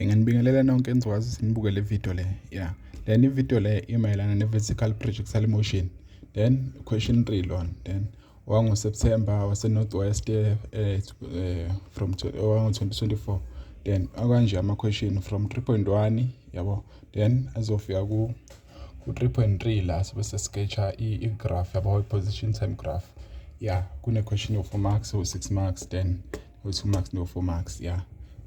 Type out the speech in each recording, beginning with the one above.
Nginibingelela nonke enizokwazi ukuthi nibuke le video le ya then ivideo le imayelana ne-vertical projectile motion then question three lona then wangoSeptember waseNorth West eh, eh, eh from wango-2024 then akanje ama-question from 3.1 yabo then azofika ku ku-3.3 la sobe sesikecha i-graph yabo i-position time graph ya yeah, kune-question of 4 marks or 6 marks then we-2 max no-4 max ya yeah.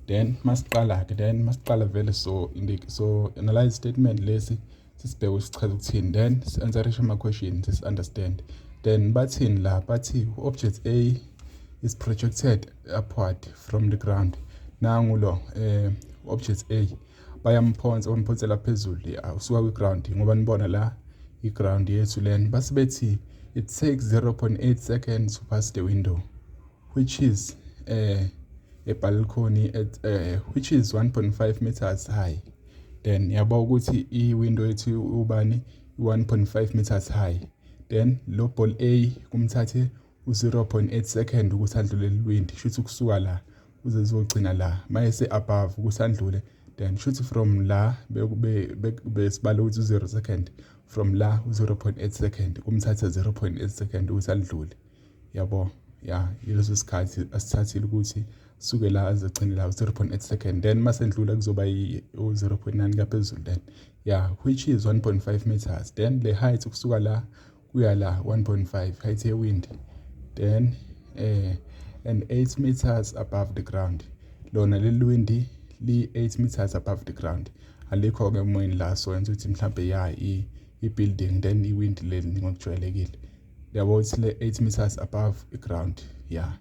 then masiqala-ke then masiqala vele so so analyze statement lesi sisibheke ukuthi sichaza ukuthini then si-answerishe ama-question sisi-understand then bathini la bathi u-object a is projected upward from the ground nangu lo um object a bayamphonsa bamphonsela phezulu ya usuka kwi-ground ngoba nibona la i-ground yethu lena base bethi it takes 0.8 seconds to pass the window which is eh a balcony at uh, which is 1.5 meters high then yaba ukuthi i-window ethi ubani 1.5 meters high then lo ball A kumthathe u-0.8 second ukuthi adlule lilwindi shuthi kusuka la uze zogcina la mayese above ukuthi andlule then shuthi from la besibale ukuthi u-0 second from la u-0.8 second kumthatha 0.8 second ukuthi alidlule yabo ya yileso sikhathi asithathile ukuthi suke la azogcine la 0.8 second then masendlula kuzoba u-0.9 kaphezulu then ya which is 1.5 meters then le height ukusuka la kuya la 1.5 height yewind then eh and 8 meters above the ground lona leli windi li 8 meters above the ground alikho ke emoyeni la so yenza ukuthi mhlambe ya i building then iwind leli ngokujwayelekile yabo it's le 8 meters above the ground yeah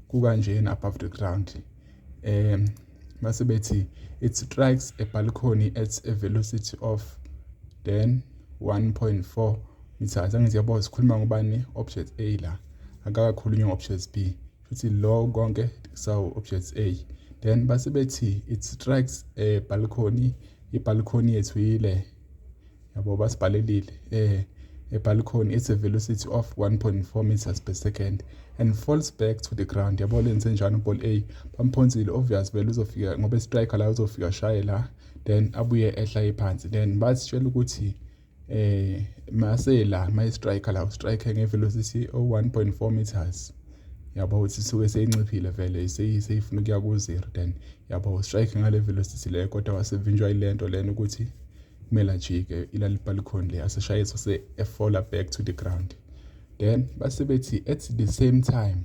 kukanjena above the ground um mase bethi it strikes a balcony at a velocity of then 1.4 meters angithi yabo sikhuluma ngobani object A la akakakhulunywa ngo-object B futhi lo konke sawu object A then base bethi it strikes a balcony ibhalkhoni yethu yile yabo basibhalelile eh ebhala khona it's a velocity of 1.4 meters per second and falls back to the ground yabo lenze njani uball a bamphonsile obvious vele uzofika ngoba striker la uzofika shaye la then abuye ehla phansi then basitshela ukuthi eh mase la my striker la striker nge velocity o 1.4 meters yabo ukuthi suke seyinciphile vele seyifuna ukuya ku zero then yabo strike ngale velocity leyo kodwa wasevinjwa ilento lena ukuthi kumele ajike ilali balcony le aseshayiswa se efola back to the ground then base bethi at the same time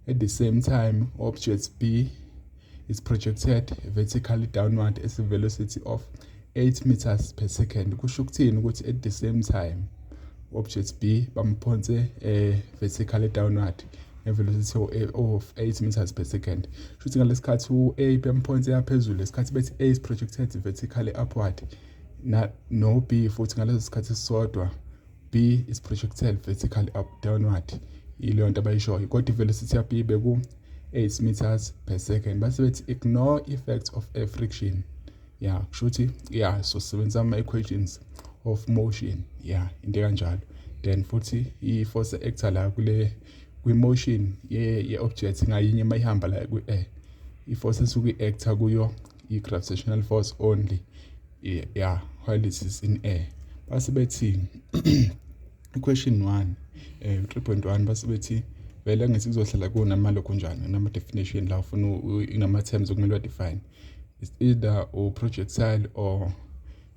at the same time object b is projected vertically downward at a velocity of 8 meters per second kusho ukuthini ukuthi at the same time object b bamphonse eh, vertically downward ngevelocity eh, of 8 meters per second shuthi ngalesikhathi u-a bem points eyaphezulu lesikhathi bethi a is projected vertically upward na no b futhi ngaleso sikhathi sisodwa b is projected vertically up downward ileyo nto abayishoyo kodwa ivelocity ya b beku 8 meters per second base bethi ignore effects of air friction ya kusho ukuthi ya so sisebenzisa ama-equations of motion ya into ekanjalo then futhi i-force actor la kule kwi-motion ye-object ngayinye uma ihamba la kwi-air i-force esuke i-actor kuyo i-gravitational force only ya while it is in air base bethi question 1 eh 3.1 base bethi vele ngithi kuzohlala kunama lokho njani nama definition la ufuna inama terms okumele wa define it's either uprojectile or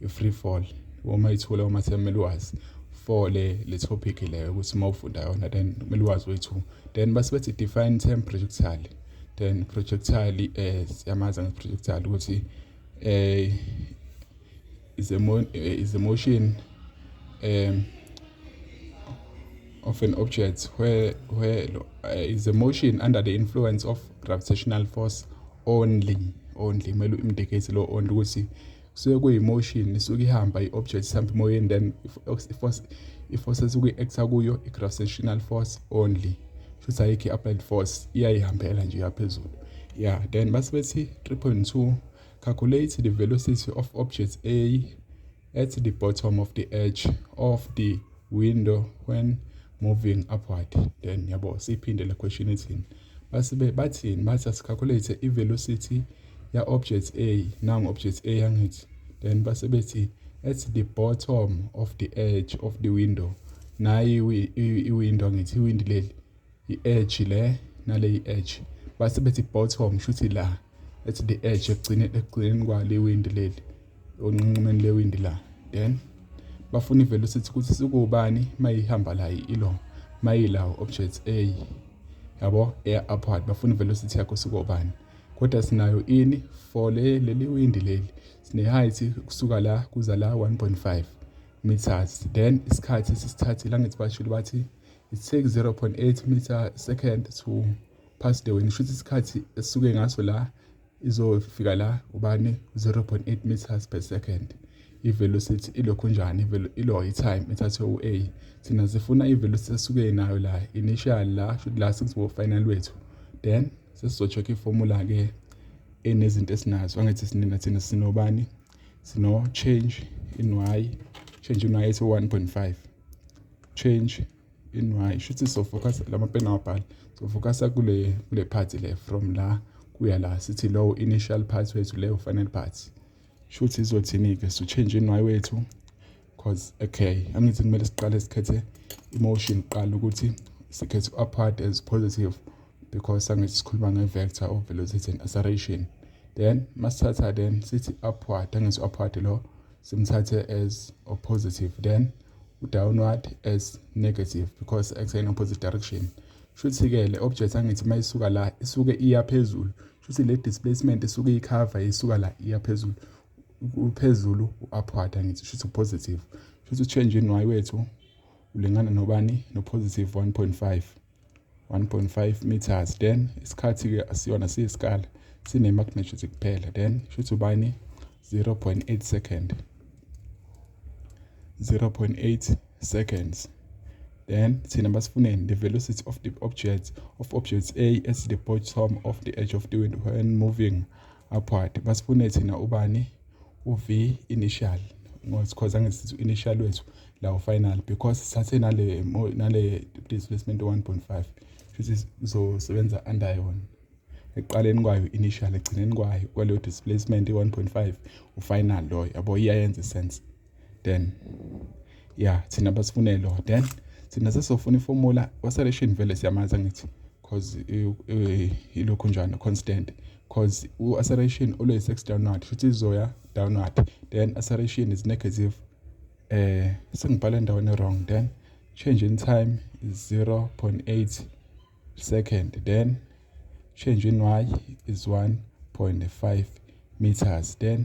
i-free fall uma ithula uma sekumele wazi for le le topic leyo ukuthi uma ufunda yona then kumele wazi wethu then base bethi define term projectile then projectile eh siyamazi ngeprojectile ukuthi eh is a, mo eh, is a motion um, of an object where, where uh, is a motion under the influence of gravitational force only only kumele u-indicate lo only ukuthi kusuke kuyi-motion isuke ihamba i-object sihambe emoyeni then i-force esuke i-acta kuyo i-gravitational force only shuthi ayikho i-applied force iyayihambela nje yaphezulu ya then base bethi 3.2 Calculate the velocity of object A at the bottom of the edge of the window when moving upward. Then yabo siphinde le question ethini. Basibe bathini bathi asicalculate i-velocity ya object A nangu object A yangithi. Then base bethi at the bottom of the edge of the window. Nayi i-window angithi iwindi leli i-edge le nale i-edge base bethi bottom shuthi la ethi the edge ekugcine ekugcineni kwale windi leli onqinqumeni lewindi la then bafuna i-velocity ukuthi sikubani mayihamba la ilo mayila object A yabo air upward bafuna i-velocity yakho sikubani kodwa sinayo ini for le leli windi leli sine height kusuka la kuza la 1.5 meters then isikhathi sisithathile angithi bashilo bathi it take 0.8 meter second to pass the wind shuthi isikhathi esuke ngaso la izofika la ubani 0.8 meters per second ivelocity ilokhu njani ilo i-time ethathwe u-a thina sifuna ivelocity esuke nayo la initial la shuthi la sekuzobo final wethu then sesizocheck iformula ke enezinto esinazo angithi sinina thina sinobani sino change in y change in y ethi 1.5 change in y isho ukuthi sofocus la mapeni awabhali sofocusa kule kule part le from la kuya la sithi low initial part wethu leyo final part shuthi izothini-ke so change in y wethu cause okay angithi kumele siqale sikhethe emotion kuqala ukuthi sikhethe upward as positive because sangithi sikhuluma nge-vector of velocity and acceleration then masithatha then sithi upward angithi upward lo simthathe as or positive then u-downward as negative because x in opposite direction shuthi-ke le object angithi uma isuka la isuke iya phezulu shuthi le displacement isuke iyikhava isuka la iya phezulu uphezulu u-upward angithi shuthi positive shuthi u-change in y wethu ulingana nobani no-positive 1.5 1.5 meters then isikhathi-ke asiyona siyisikali sine-magnitude kuphela then shuthi ubani 0.8 second 0.8 seconds then thina basifuneni the velocity of the object of object a at the bottom of the edge of the wind when moving Apwadi basifune thina ubani uV initial because angisithi initial wethu lawo final because sithathe nale nale displacement 1.5 futhi sizosebenza under yona ekuqaleni kwayo initial ekugcineni kwayo kwaleyo displacement 1.5 ufinal loyo yabo iyayenza isense then ya thina basifunelo then thina sesofuna iformula waseleshini vele siyamazi angithi cause ilokhu njani constant cause u-acceleration always x downward futhi izoya downward then acceleration is negative eh sengibhala endaweni wrong then change in time is 0.8 second then change in y is 1.5 meters then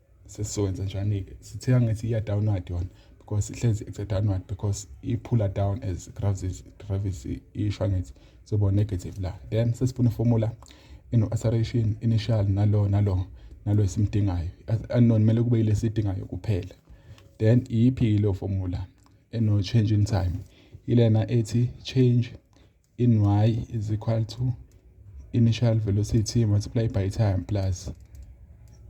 sesizokwenza njani-ke sithe angithi iya-downward yona because ihlezi it's a downward because iphula down as gravity isho angithi soba negative la then sesifuna ifomula eno-acceleration initial nalo nalo nalo esimdingayo unknown kumele kube yile sidingayo kuphela then iyiphi-ke leyo fomula eno-change in time ilena ethi change in y is equal to initial velocity multiplied by time plus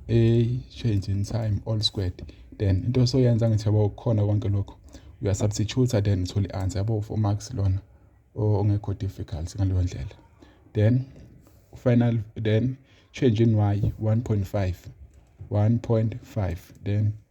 a change in time all squared then into soyenza ngithi yabo khona konke lokho uya substitute then uthole i-answer yabo for max lona ongekho difficult ngaleyo ndlela then final then change in y 1.5 1.5 then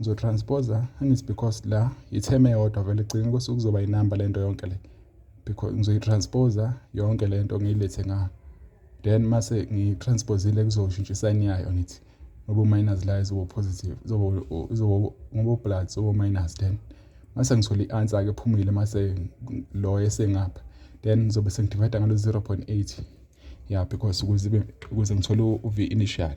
ngizotransposa angithi because la itheme yodwa vele gcina kwese kuzoba yinamba lento yonke le because ngizoyitransposa yonke lento ngiyilethe nga then mase ngiyitransposile kuzoshintsha isayini yayo ngithi ngoba minus la izoba positive izoba izoba ngoba plus izoba minus then mase ngithola i-answer ke phumile mase lo esengapha then ngizobe sengidivide ngalo 0.8 yeah because ukuze ukuze ngithole uv initial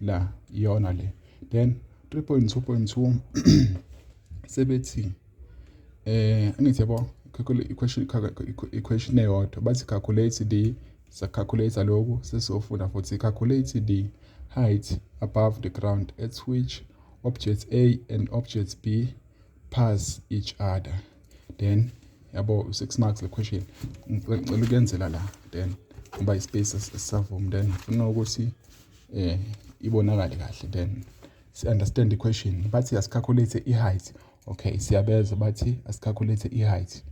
la iyona le then 3.2.2 sebethi eh angithi yabo equation equation eyodwa bathi calculate the sacalculate lokhu sesofunda futhi calculate the height above the ground at which object A and object B pass each other then yabo 6 marks le question ngicela ukuyenzela la then ngoba ispace esisavumi then ngifuna ukuthi eh ibonakale kahle then si understand i-question bathi asicalculate i-height okay siyabeza bathi asicalculate i-height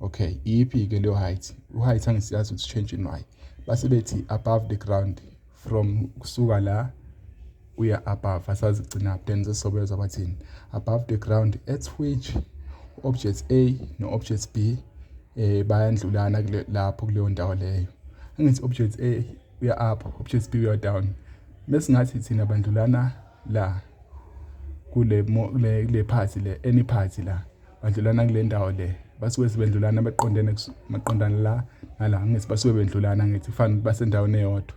okay iyiphi ke leyo height u-height angisiyazi ukuthi change in y base bethi above the ground from kusuka la uya above asazi gcina then sesobeza bathini above the ground at which object A no object B eh bayandlulana lapho kuleyo ndawo leyo angithi object A uya up options b uya down mesingathi thina bantu lana la kule kule kule party le any party la bantu lana kule ndawo le basuke sebendlulana baqondene maqondana la nala ngithi basuke bendlulana ngithi fana basendaweni eyodwa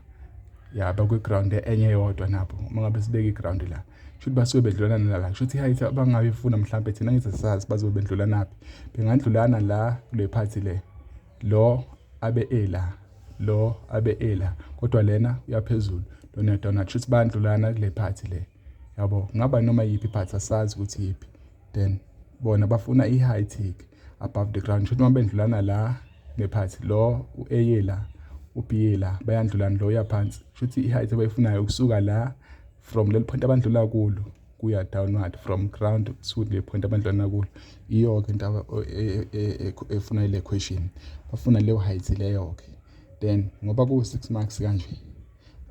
ya bakwi ground enye eyodwa nabo uma ngabe sibeke i ground la shuthi basuke bedlulana nala shuthi hayithi abangayifuna mhlawumbe thina ngithi sazi bazobe bedlulanaphi bengadlulana la kule phathi le lo abe ela lo abe ela kodwa lena uyaphezulu lona dona kusho ukuthi bandlulana kule phathi le yabo ngaba noma yiphi phathi asazi ukuthi yiphi then bona bafuna i-high tick above the ground kusho ukuthi uma bendlulana la nephathi lo u-eye la ubhiye la bayandlulana lo uyaphansi kusho ukuthi i-height abayifunayo ukusuka la from leli point abandlula kulo kuya downward from ground to le point abandlwana kulo iyoke into e, e, e, efuna ile question bafuna leyo height leyo ke then ngoba ku 6 marks kanje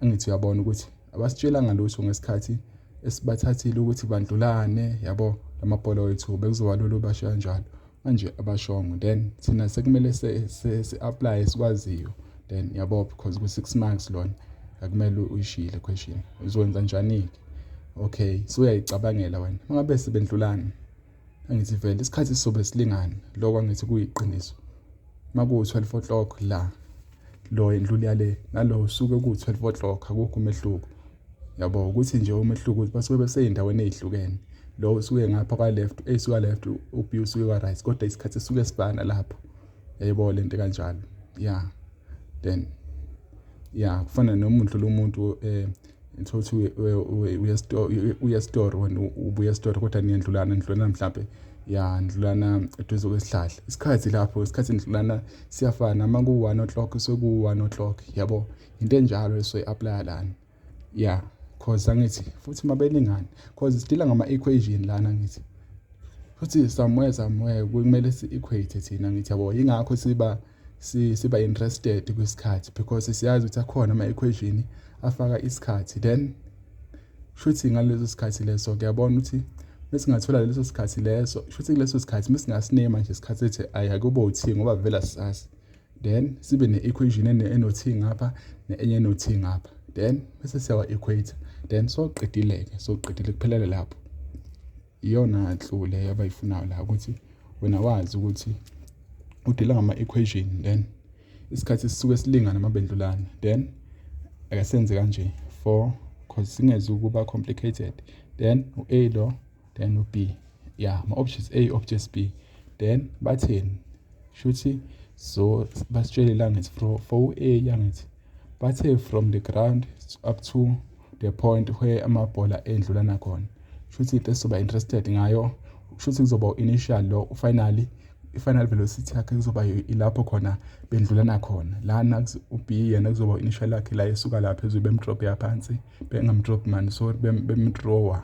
angithi uyabona ukuthi abasitshela ngalutho ngesikhathi esibathathile ukuthi bandlulane yabo lamabhola wethu bekuzoba lolu basho kanjalo manje abashongo then thina sekumele si-aplaye sikwaziyo then yabo because ku-six marks lona akumele uyishile question uzokwenza njani-ke okay suyayicabangela wena uma ngabe sebendlulani angithi vele isikhathi sizobe silingana loko angithi kuyiqiniso uma kuwu-twelve o'clock la lo endluli yale nalo usuke kuwu-twelve o'clock akukho umehluko Yabo ukuthi nje umehluko ukuthi basuke besey'ndaweni ey'hlukene. Lo usuke ngapha kwa-left, ey'suka left uB usuke kwa-right kodwa isikhathi sisuke sifana lapho. Yayibona eh, le nto kanjalo. Ya. Then ya kufana noma undlula umuntu eh thothi uye esitoro wena ubuya esitoro kodwa niyandlulana nidlulana mhlawumbe ya ndlulana eduze kwesihlahla isikhathi lapho isikhathi nidlulana siyafana uma ku-one o'clock sekuwu-one o'clock yabo into enjalo esoyi apply lana yeah cause angithi futhi mabeningani cause sidila ngama equation lana ngithi futhi somewhere somewhere kumele si equate thina ngithi yabo ingakho siba siba interested kwisikhathi because siyazi ukuthi akhona ama equation afaka isikhathi then shuthi ngaleso sikhathi leso kuyabona ukuthi mesingathola leso sikhathi leso shuthi kuleso sikhathi mesingasinema nje isikhathi ethi ayakube uthi ngoba vela sisasi then sibe ne-equation enothi ngapha ne-enye enothi ngapha then bese siyawa-equator then soqedile-ke soqedile kuphelele lapho iyona nhlu leyo abayifunayo la ukuthi wena wazi ukuthi udila ngama-equation then isikhathi sisuke silingana mabendlulana then akasenze kanje 4 cause singeze ukuba complicated then u-a lo then u-b ya yeah, ma-objects a objects b then batheni shuthi so basitshele langithi for for u-a yangithi bathe from the ground up to the point where amabhola endlula nakhona shuthi into esizoba interested ngayo shuthi kuzoba u-initial lo ufinally i-final velocity yakhe kuzoba ilapho khona bendlula nakhona lana u-b yena kuzoba u-initial yakhe la esuka lapha ezwe bemdrop yaphansi bengamdrop mani sorry bemdrowa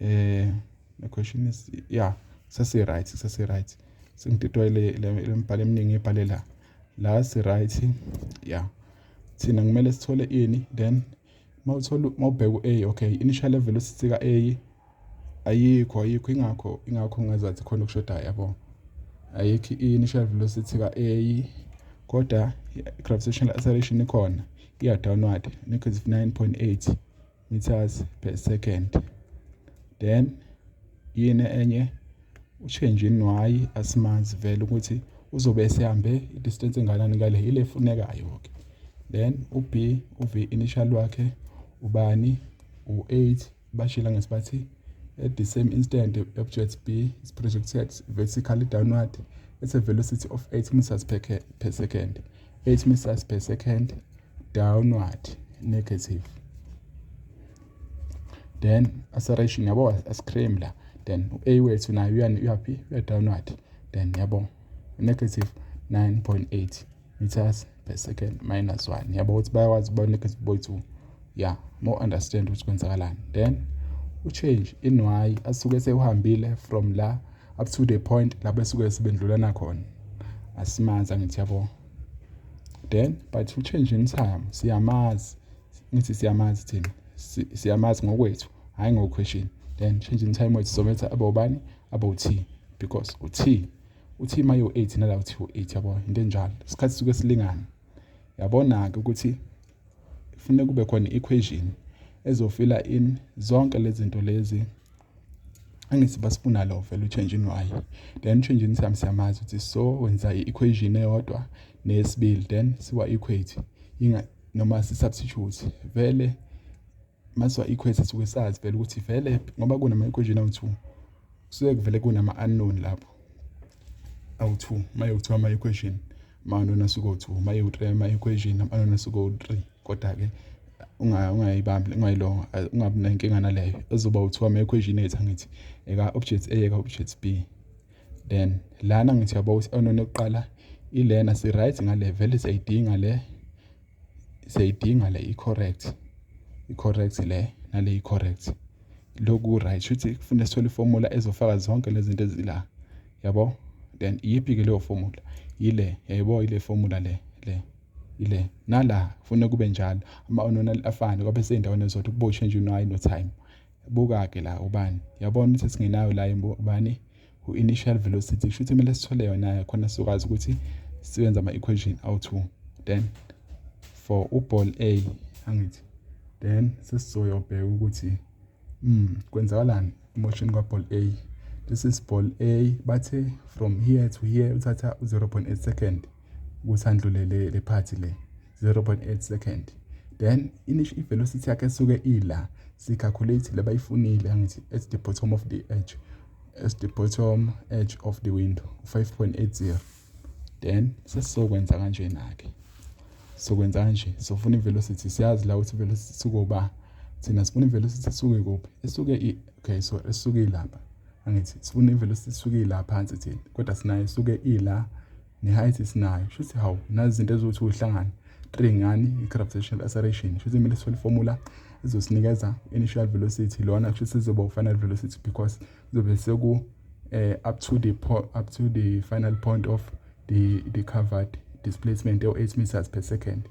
Eh, the question is yeah sesi right sesi right sengididwa le lembhalo eminingi ebhale la la si right yeah thina kumele sithole ini then mawuthola mawubheka u-a okay initial level usisika a ayikho ayikho ingakho ingakho ngazathi khona okushodayo yabo ayikho i-initial velocity ka-a kodwa i-gravitational acceleration ikhona iya-downward nekho is 9.8 meters per second then yini enye ushenje inwayi asimazi vele ukuthi uzobe esehambe i-distance enganani ngale ile efunekayo-ke then u-b uv initial wakhe ubani u-8 bashila ngesibathi at the same instant object b is projected vertically downward at a velocity of 8 meters per, per second 8 meters per second downward negative then acceleration yabo ascream la then u-a wethu nayo uyani uyaphi uya downward then yabo negative 9.8 meters per second minus 1 yabo ukuthi bayakwazi ukuba negative boy 2 ya mo understand ukuthi kwenzakalani then u-change in y asuke sewuhambile from la up to the point lapho esuke sebendlulana khona asimazi angithi yabo then but to change in time siyamazi ngithi siyamazi thina siyamazi ngokwethu hhayi ngokhweshini then change in time wethu sometha abobani abo-t because u-t u-t uma yiwu-eight nala uthi u-eight yabo into enjalo isikhathi suke silingana yabona-ke ukuthi kufuneka kube khona i-equation ezofila in zonke lezi zinto lezi angithi basifuna lo vele utshenjini waye then utshenjini sami siyamazi ukuthi so wenza i-equation eyodwa nesibili then siwa-equate noma si-substitute vele masiwa-equate suke sazi vele ukuthi vele ngoba kunama-equation awu-two kusuke kuvele kunama-unknown lapho awu-two uma yokuthiwa ama-equation Manona suko 2 maye u 3 maye equation manona suko 3 kodwa ke ungayibambi ungayilonga ungabi nenkinga naleyo ezoba u 2 ama equation ethu ngithi eka object A eka object B then lana ngithi yabo onona oqala ilena si right ngale vele siyidinga le siyayidinga le i-correct i-correct le nale i-correct loku right shuthi kufuneka sithole iformula ezofaka zonke lezi zinto ezila yabo then iyiphi ke leyo formula yile yayibona yile formula le le ile nala kufuneka kube njalo ama-ononali afane kwabe seyindaweni ezodwa kuboshwe nje uno-i no-time buka-ke la ubani yabona ukuthi singenayo la ubani u-initial velocity kusho ukuthi kumele sithole yona-ke khona sizokwazi ukuthi siwenze ama-equation awu-two then for uball a angithi then sesizoyobheka ukuthi um kwenzakalani emotion kwaball a this is ball a bathe from here to here uthatha u-0 point eight second ukuthi andlulele le phathi le 0.8 second then inish i-velocity yakhe esuke ila si-calculate le bayifunile angithi at the bottom of the edge at the bottom edge of the window 5.80 then sesizokwenza kanjena-ke sokwenza kanje sofuna i-velocity siyazi la ukuthi i-velocity sukoba thina sifuna i-velocity isuke kuphi isuke okay so esuke ilapha angithi sifuna i-velocity isuke ila phansi thina kodwa sinayo isuke ila ne-height esinayo shuthi hawu nazi izinto eziwuthi uhlangane three ngani i-gravitational acceleration shuthi kumele sithole formula ezosinikeza initial velocity lona kusho ukuthi sizoba u-final velocity because kuzobe seku eh, up to the up to the final point of the the covered displacement or 8 meters per second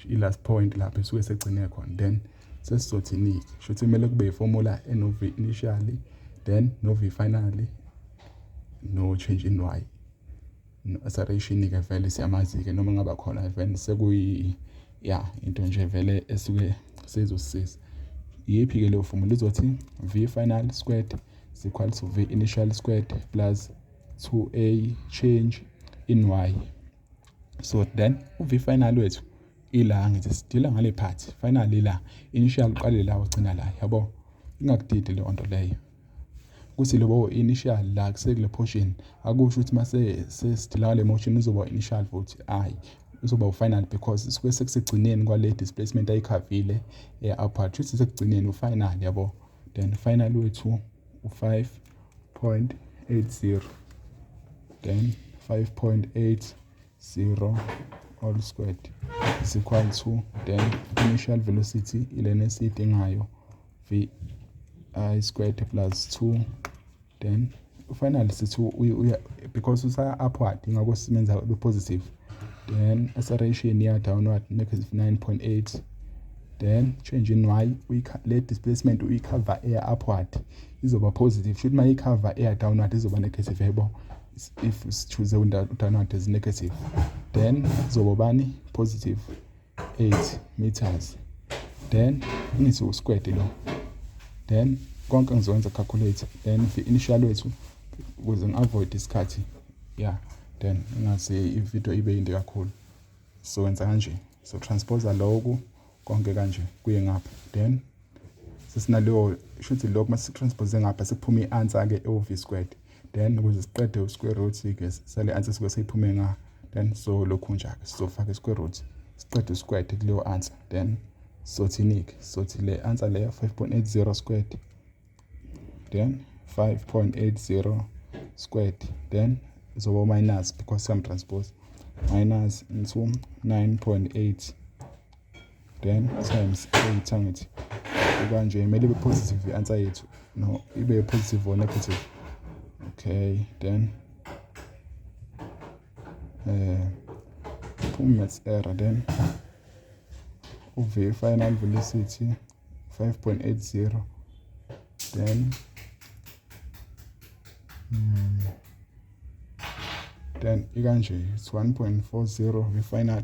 i-last point lapho esuke segcine khona then sesizothini-ke sho ukuthi kumele kube yiformula eno-v initially then no-v finally no-change in y sareyishini-ke vele siyamazi-ke noma ngaba khona vele sekuyi ya into nje vele esuke seyizosisiza iyiphi-ke leyo fomula izothi v final squared is equal to v initial squared plus 2a change in y so then uv final wethu ila ngithi sidila ngale part final ila initial uqale la ugcina la yabo ingakudidi leyo nto leyo ukuthi lobo initial la kusekule portion akusho ukuthi mase sesithilaka le motion uzoba initial vote ayi uzoba ufinal because sisuke sekusigcineni kwale displacement ayikhavile e-upper eh, kushuthi sekugcineni ufinal yabo then final wethu u-5.80 then 5.8 0 all squared is equal to then initial velocity ilena esiyidingayo v i squared plus 2 then finally sithi uya because usa upward ingakho simenza be positive then acceleration iya downward negative 9.8 then change in y le displacement uyicover eya upward izoba positive shuthi uma icover eya downward izoba negative yebo if sichuze udanward as negative then zobobani positive 8 meters then ngithi usquare lo then konke ngizokwenza calculate then the initial wethu ukuze ngi-avoid isikhathi ya then ingase ividiyo ibe yinde kakhulu so wenza kanje so transposa loku konke kanje kuye ngapha then sesinaleyo shuthi lokho uma si-transpose ngapha sekuphume i-answer-ke ewu-v squared then ukuze siqede u-square root-ke sale answer suke seyiphume nga then so lokhu nje-ke sizofaka i-square root siqede u-squared kuleyo answer then sothini-ke sothi le answer leyo 5.80 squared then 5.80 squared then zoba minus because some transpose minus into 9.8 then times 8 angithi kanje kumele ibe positive i-answer yethu no ibe positive or negative okay then eh phuma maths error then uve final velocity 5.80 then mm, then ikanje it's 1.40 ve final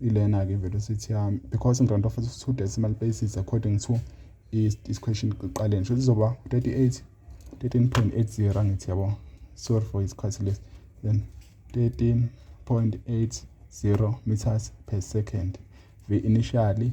ilena ke velocity yami because ngironda for two decimal places according to is question kuqaleni sho lizoba 38 13.80 angithi yabo sorry for isikhathi lesi then 13.80 meters per second ve initially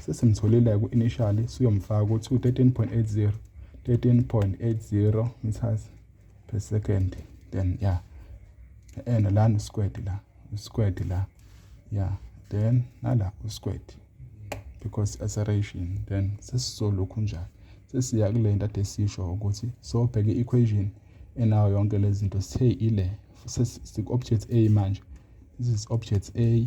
sesimtholile ku-initially siyomfaka ukuthi u-13.80 13.80 meters per second then ya ena lana usquared la usquared la ya then nala usquared because acceleration then sesizolokhu njalo sesiya kule nto ade sisho ukuthi sobheka i-equation enayo yonke lezi zinto sithe ile siku-object a manje this is object a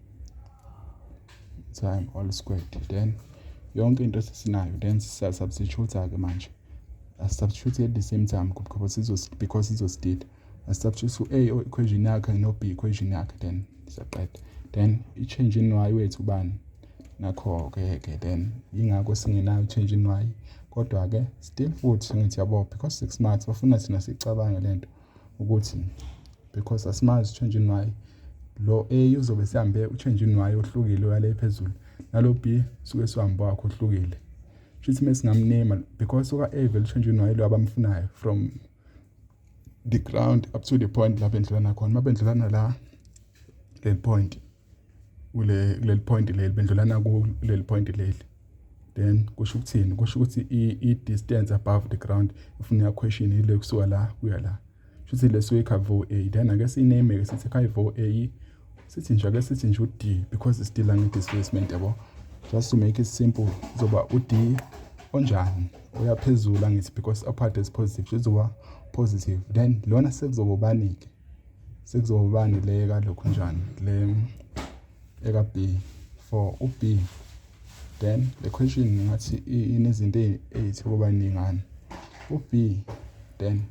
time all squared then yonke into esinayo then sisubstitute-ke manje asisubstitute at the same time because because sizosidida asisubstitute u-a equation yakhe no-b equation yakhe then siyaqeda then i-change in y wethu ubani nakho-ke ke then yingakho singenayo i-change in y kodwa-ke still futhi ngithi yabo because six months bafuna thina siyicabange le nto ukuthi because asimazi change in y lo a uzobe sihambe uchange in y ohlukile uyale phezulu nalo b suke sihambe wakho ohlukile shuthi mesingamnema because oka a vele uchange in y lo abamfunayo from the ground up to the point lapho endlulana khona mabendlulana la le point kule kuleli point leli bendlulana kuleli point leli then kusho ukuthini kusho ukuthi i distance above the ground ifuna ya question ile kusuka la kuya la shuthi leso ikha vo a then ake siname ke sithi kha vo a sithi nje ake sithi nje u d because it's still long displacement yabo just to make it simple zoba u d onjani oyaphezulu angithi because upper is positive izoba positive then lona sekuzoba ubani ke sekuzobani le kalokhu njani le eka B for u B then le question ngathi inezinto ezithi kuba ningani u B then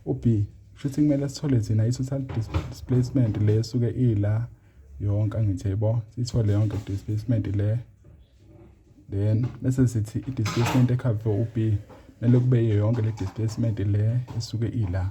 u B shuthi kumele sithole thina i-total displacement le suke ila yonke angithi yebo sithole yonke displacement le then bese sithi i-displacement ekhave u-b kumele kube yonke le displacement le esuke ila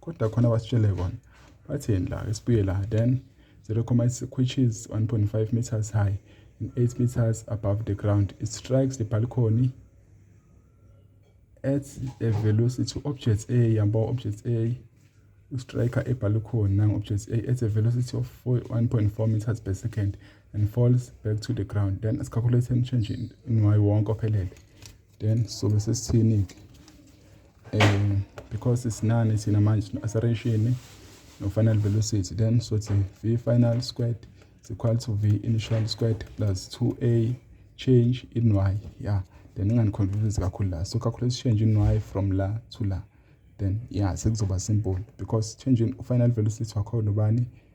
kodwa khona basitshele kona bathini la ke sibuye la then 0.6 which is 1.5 meters high and 8 meters above the ground it strikes the balcony at a velocity object a yamba object a ustriker ebhalkhona nango-object a at a velocity of 1.4 meters per second and falls back to the ground then asicalculate change in y wonke ophelele then sobe sesithini-ke um because sinani thina manje no-aseration nofanele vele usithi then sothi v final squared is equal to v initial squared plus 2a change in y yeah then inganiconfuse kakhulu la so calculate change in y from la to la then yeah sekuzoba simple because change in final velocity wakhona ubani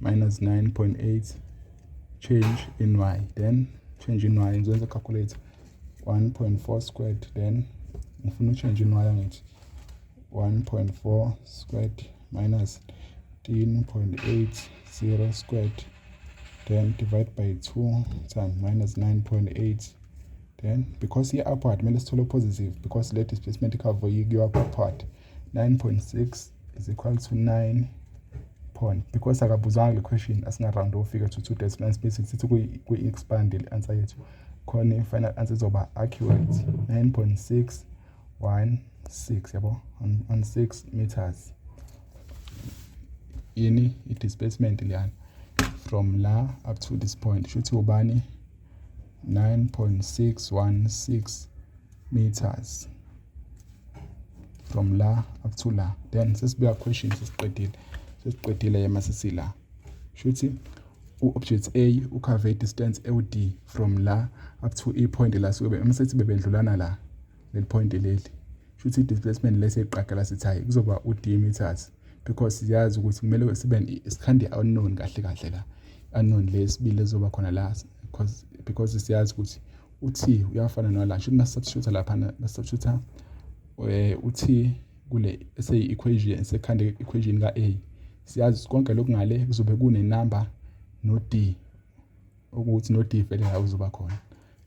minus 9.8 change in y then change in y ngizoyenza calculate 1.4 squared then ngifuna uchange in y angithi 1.4 squared minus 13.80 squared then divide by 2 times minus 9.8 then because i-upward kumele sithole positive because le displacement cover yiyo upward 9.6 is equal to 9 point because akabuzanga le question asingaround ofika to two decimal spaces sithi kwi-expand le answer yethu khona i-final answer izoba accurate 9.616 yabo 16 meters yini i-displacement liyana from la up to this point shuthi ubani 9.616 meters from la up to la then sesibuya question sesiqedile sesiqedile yema sesila shuthi u-object A ukhave distance ewu-D from la up to i-point la sube uma sethi bebedlulana la leli point leli shuthi i-displacement lesi eqagela sithi hayi kuzoba u-D meters because siyazi ukuthi kumele sibe sikhande unknown kahle kahle la unknown lesibili ezoba khona la because because siyazi ukuthi uthi uyafana nala shuthi masubstitute lapha masubstitute eh uthi kule eseyi equation esekhanda equation ka A siyazi konke lokhu ngale kuzobe kune number no D ukuthi no D vele la uzoba khona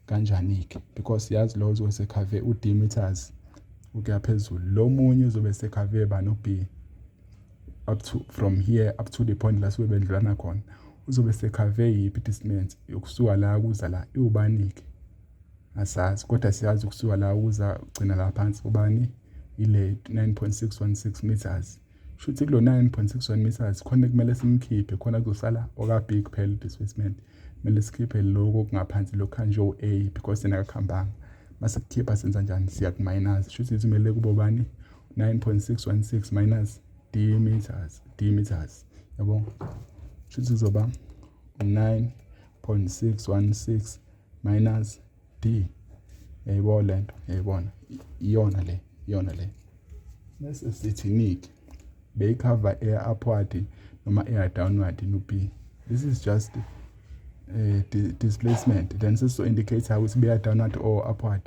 kanjani ke because siyazi lo uzobe sekhave u D meters ukuya phezulu lo munye uzobe sekhave ba no B up to from here up to the point la suke bendlulana khona uzobe sekhave yiphi distance yokusuka la kuza la iwubani-ke asazi kodwa siyazi ukusuka la kuza gcina la phansi ubani ile 9.616 meters shuthi kulo 9.61 meters khona kumele simkhiphe khona kuzosala okabig kuphela udisplacement kumele sikhiphe lokho kungaphansi lokhu kanje o-a because yena akakuhambanga mase kukhipha senza njani siya ku-minus shuthi kumele kubobani 9.616 minus d meters d meters yabo shuthi kuzoba 9.616 minus d yayibo lento yayibona iyona le iyona le bese sithi nike beyikhava eya upward noma eya downward no p this is just uh, di displacement then sesizo indicator ukuthi beya downward or upward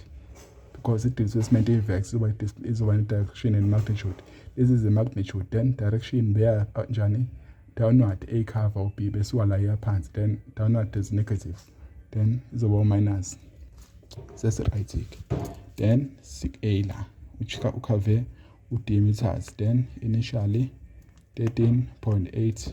because i-displacement i-vex izoba izoba ne-direction and magnitude this is the magnitude then direction beya uh, njani downward a cover or b besuka la iya phansi then downward is negative then izoba u-minus sesiright-ke then sik-a la ukhave u-d meters then initially 13.8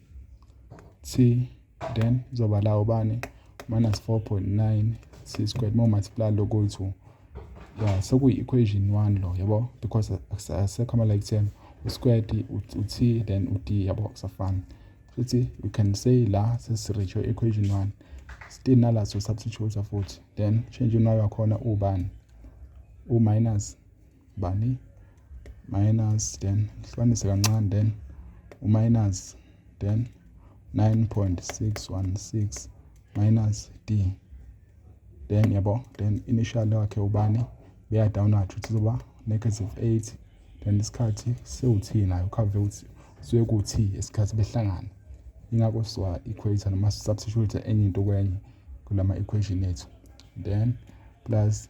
c then zoba la ubani minus 4.9 c squared more multiply local 2 ya sekuyi-equation 1 lo yabo because asekho ama-like term usquared u-t then u-d yabo kusafana futhi you can say la sesiricho equation 1 still nala so substitute futhi then change unayo wakhona ubani u-minus bani minus then ngihlukanise kancane then uminus then 9.616 minus d then yabo then initial wakhe ubani beya downward ukuthi zoba negative 8 then isikhathi sewuthina ukhave ukuthi suke kuthi isikhathi behlangana ingakho siwa equator noma substitute enye into kwenye kulama equation ethu then plus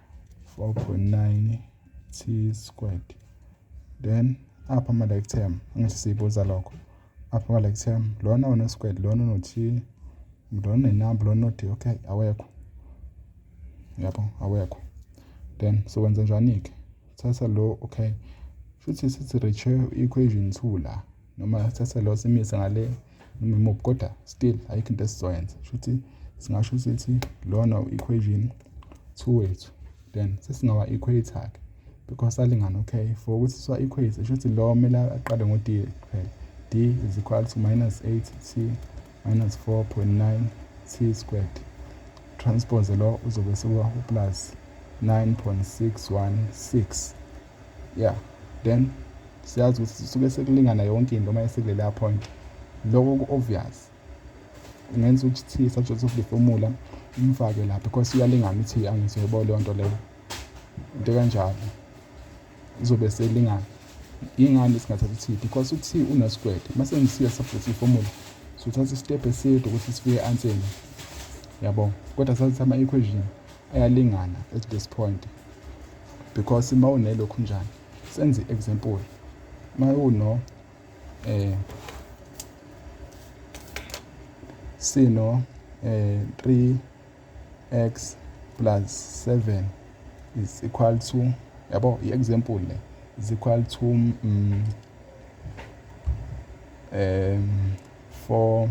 4.9 t squared then apha ama-like term angithi siyibuza lokho apha ama-like term lona uno-squared lona uno-t lona inamba lona uno-d okay awekho yabo awekho then so wenza njani-ke thatha lo okay shuthi sithi reach equation 2 la noma thatha lo simise ngale noma imuphi kodwa still ayikho into esizoyenza shuthi singasho ukuthi lona u-equation 2 wethu then sesingawa equator ke because salingana okay for ukuthi siwa equator shuthi lo kumele aqale ngo d kuphela d is equal to minus 8 t minus 4.9 t squared transpose lo uzobe sekuwa plus 9.616 ya then siyazi ukuthi sisuke sekulingana yonke into uma esekuleya point loko ku-obvious ungenza ukuthi thi subject of the formula umfake lapha because uyalingana ithi angizoyebo leyo nto leyo into kanjalo izobe selingana yingani singathatha ithi because uthi unesikwede uma sengisiya subject formula sothatha isitep eside ukuthi sifike anseni yabo kodwa sazithatha ama-equation ayalingana at this point because uma unelokhu njani senze i-example uma uno eh sino eh 3x plus 7 is equal to yabo i-example le is equal to um, um 4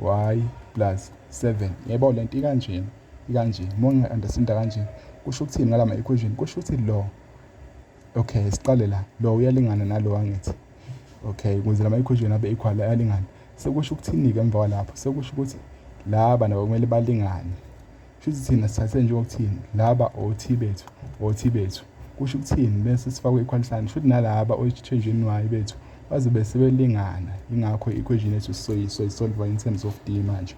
y plus 7 yebo le nto ikanjena ikanje uma nginga-understanda kanje kusho ukuthini ngala ma-equation kusho ukuthi lo okay siqale la lo uyalingana nalo angithi okay ukuze la ma-equation abe equal ayalingana sekusho ukuthini-ke emva kwalapho sekusho ukuthi laba nabo kumele balingane Shuthi thina sithathe nje okuthini laba othi bethu othi bethu kusho ukuthini bese sifakwe ikhwalisana shuthi nalaba oyithenjini wayo bethu bazobe sebelingana ingakho i-equation yethu soyisolva in terms of d manje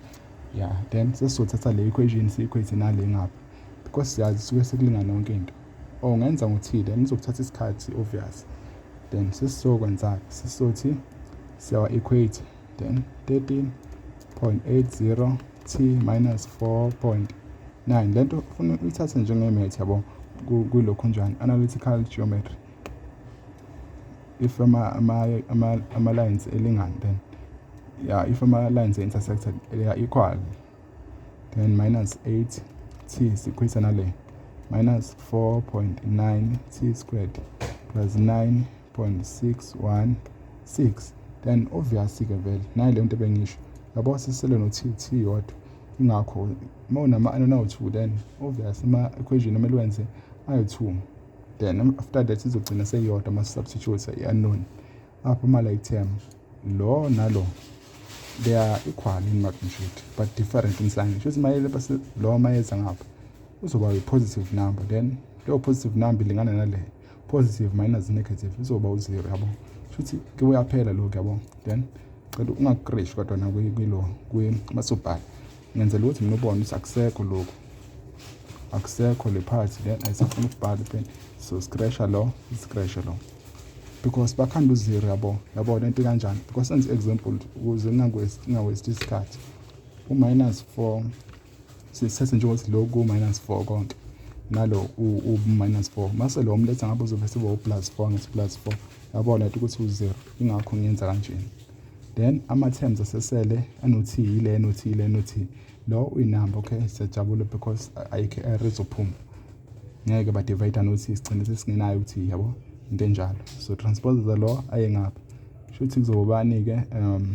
ya yeah. then sesizothatha le equation siyikhwethe nale ngapha because siyazi suke sekulingana yonke into or oh, ngenza ngothile nizokuthatha isikhathi obvious then sesizokwenzani sizothi siyawa-equate then 13.80 t minus 4.9 le nto ufuna uyithathe njengemethi yabo kulokhu njani analytical geometry if ama-lines elingani then yeah if ama-lines intersected they are equal then minus 8 t sikhwisa nale minus 4.9 t squared plus 9 0.616 then obvious ke vele nayi le nto bengisho yabo sisele no t t yodwa ingakho uma unama ano nawu 2 then obvious ama equation kumele wenze ayo 2 then after that izogcina seyodwa ama substitutes i unknown apho ama like term lo nalo they are equal in magnitude but different in sign shothi mayele base lo mayeza ngapha uzoba yi positive number then leyo positive number ilingana nale positive minus negative izoba u-zero yabo shuthi ke uyaphela lokho yabo then cela ungakukreshi kodwa nakwilo kumasobhala ngenzela ukuthi mina ubone ukuthi akusekho lokhu akusekho le phathi then ayisafuna ukubhala pen so sikresha lo sikreshe lo because bakhanda uzero yabo yabo le nto kanjani because senze i-example ukuze ngingawesti isikhathi u-minus four sithathe njengokuthi lo ku-minus four konke nalo u-minus four mase lo mletha ngabe uzobe seba u-plus four ngithi plus four yabona lati ukuthi u-zero ingakho ngiyenza kanjena then ama-terms asesele anoth yile anoth yile anoth lo uyinamba okay siyajabula because ayikho error izophuma ngeke badivayida nothi sigcine sesingenayo ukuthi yabo into enjalo so transposer lo aye ngapha shuthi kuzobani-ke um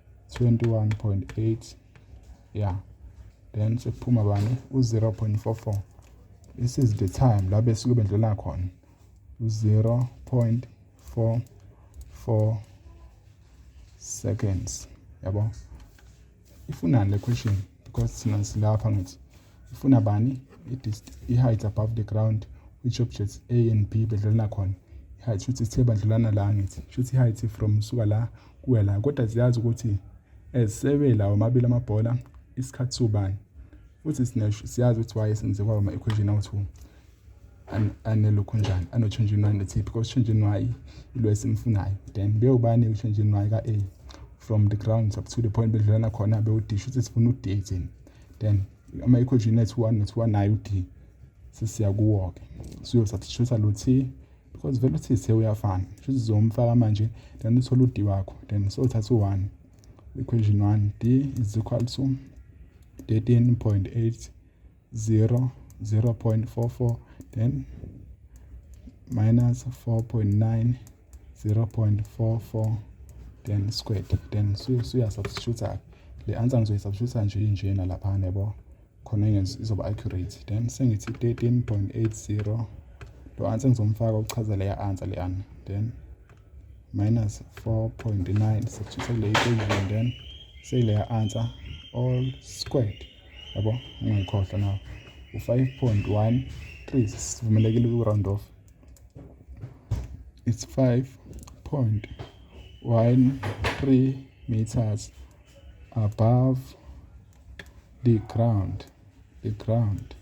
21.8 yeah then sekuphuma bani u-0.44 this is the time la besuke bendlula khona u-0.44 seconds yabo ifunani le question because thina silapha ngithi ifuna bani i-height above the ground which objects a and b bedlulana khona i-height shuthi sithe badlulana la ngithi shuthi i-height from suka la kuya la kodwa ziyazi ukuthi ezisebe lawo amabili amabhola isikhathi sobani futhi siyazi ukuthi why senze kwaba ama-equation awu-two anelokhu njani anotshintshinwayo nethi because utshintshinwayo ilo esimfunayo then beyobani utshintshinwayo ka-a from the grounds up to the point bedlulana khona bewudish ukuthi sifuna u-d thina then uma equation ethu one nothi one nayo u-d sesiya kuwo-ke siyosathishusa lo t because vele uthi se uyafana shuthi zizomfaka manje then uthole u-d wakho then sothatha u-one equation one d is equal to 13.8 0 0.44 then minus 4.9 0.44 then squared then suya substitute le answer ngizoyi substitute nje injena lapha nebo khona izoba accurate then sengithi 13.80 lo answer ngizomfaka ukuchaza leya answer leyana then minus 4.9 substitute le equation then say leya answer all squared yabo ungayikhohlwa nawo u-five point one three sivumelekile kwi-round off it's five point one three meters above the ground the ground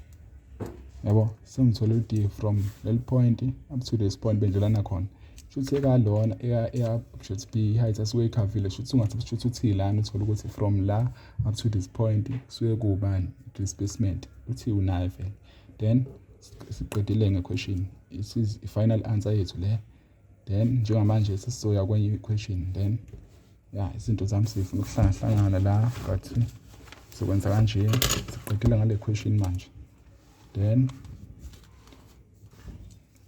yabo sengithole u-d from leli point up to this point bendlelana khona shuthi ekalona eya shuthi b height asuke ikhavile shuthi ungathi shuthi uthi lana uthole ukuthi from la up to this point kusuke kuwubani displacement uthi unayo vele then siqedile ngequestion this is i-final answer yethu le then njengamanje sesizoya kwenye i-question then ya izinto zami sifuna ukuhlangahlangana la but sizokwenza kanje siqedile ngale question manje then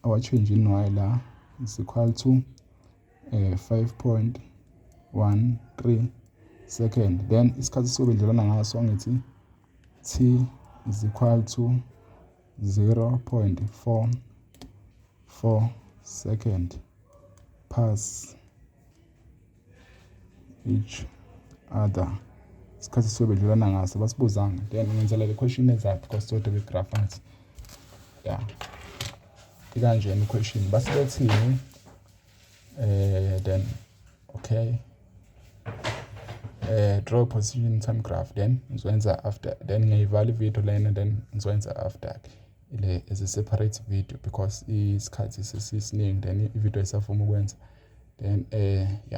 our change in y la is equal to eh 5.13 second then isikhathi sobe ndlelana ngaso angithi t is equal to 0.44 second pass each other isikhathi sobe ndlelana ngaso basibuzanga then ngenzela le question exact because sote be graph angithi ya ikanjena i-question basibethini uh, then okay uh, draw position some graph then ngizoyenza after then ngiyivala ivideo lena then ngizoyenza after le as a separate video because isikhathi sesisiningi then ivideo isafuma ukwenza then uh, ya